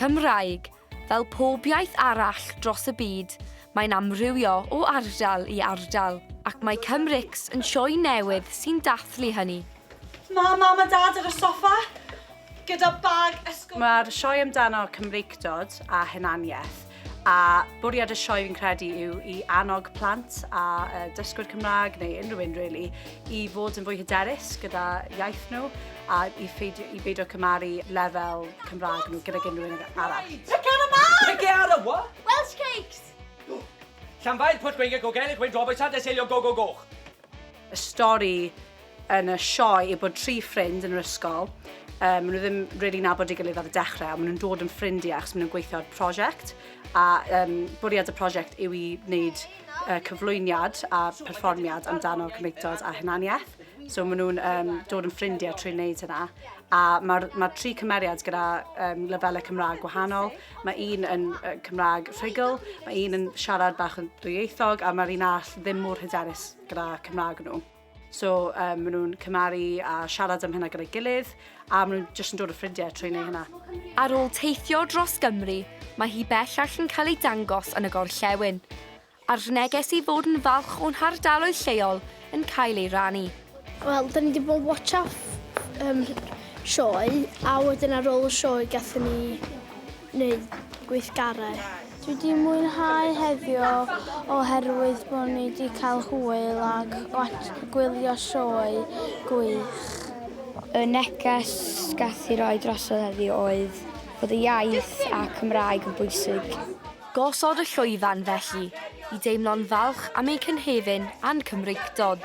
Cymraeg, fel pob iaith arall dros y byd, mae'n amrywio o ardal i ardal, ac mae Cymrix yn sioe newydd sy'n dathlu hynny. Mae Mam a Dad ar y soffa, gyda bag ysgol... Mae'r sioe amdano Cymreictod a hunaniaeth, A bwriad y sioe fi'n credu yw i annog plant a uh, dysgwyr Cymraeg neu unrhyw un really i fod yn fwy hyderus gyda iaith nhw a i, ffeidio, i beidio cymaru lefel Cymraeg nhw gyda unrhyw un arall. Tacera mawr! Tacera what? Welsh cakes! Llanfair, Pwllgwyngyll, Gogellig, Wyn Droboes, Sandesylio, Go Go Goch. Y stori yn y sioe yw bod tri ffrind yn yr ysgol, um, maen nhw ddim really nabod i gilydd ar y dechrau, ond maen nhw'n dod yn ffrindiau achos maen nhw'n gweithio ar prosiect, a um, bwriad y prosiect yw i wneud uh, cyflwyniad a perfformiad amdano cymreictod a hunaniaeth. So maen nhw'n um, dod yn ffrindiau trwy wneud hynna. A mae'r ma tri cymeriad gyda um, lefelau Cymraeg gwahanol. Mae un yn uh, Cymraeg rhugl, mae un yn siarad bach yn dwyieithog, a mae'r un all ddim mor hyderus gyda Cymraeg nhw. So um, maen nhw'n cymaru a siarad am hynna gyda'i gilydd a maen nhw'n jyst yn dod o ffrindiau trwy neu hynna. Ar ôl teithio dros Gymru, mae hi bellach yn cael ei dangos yn y gorllewin, a'r neges i fod yn falch o'n hardaloedd lleol yn cael ei rannu. Wel, da ni wedi bod watch up um, sioe, a wedyn ar ôl y sioe gathen ni wneud gweithgarau. Dwi wedi mwynhau heddiw oherwydd bod ni wedi cael hwyl a gwylio sioe gwych. Y neges gath i roi drosodd heddiw oedd bod y iaith a Cymraeg yn bwysig. Gosod y llwyfan felly i deimlo'n falch am ein cynhefin a'n Cymreictod.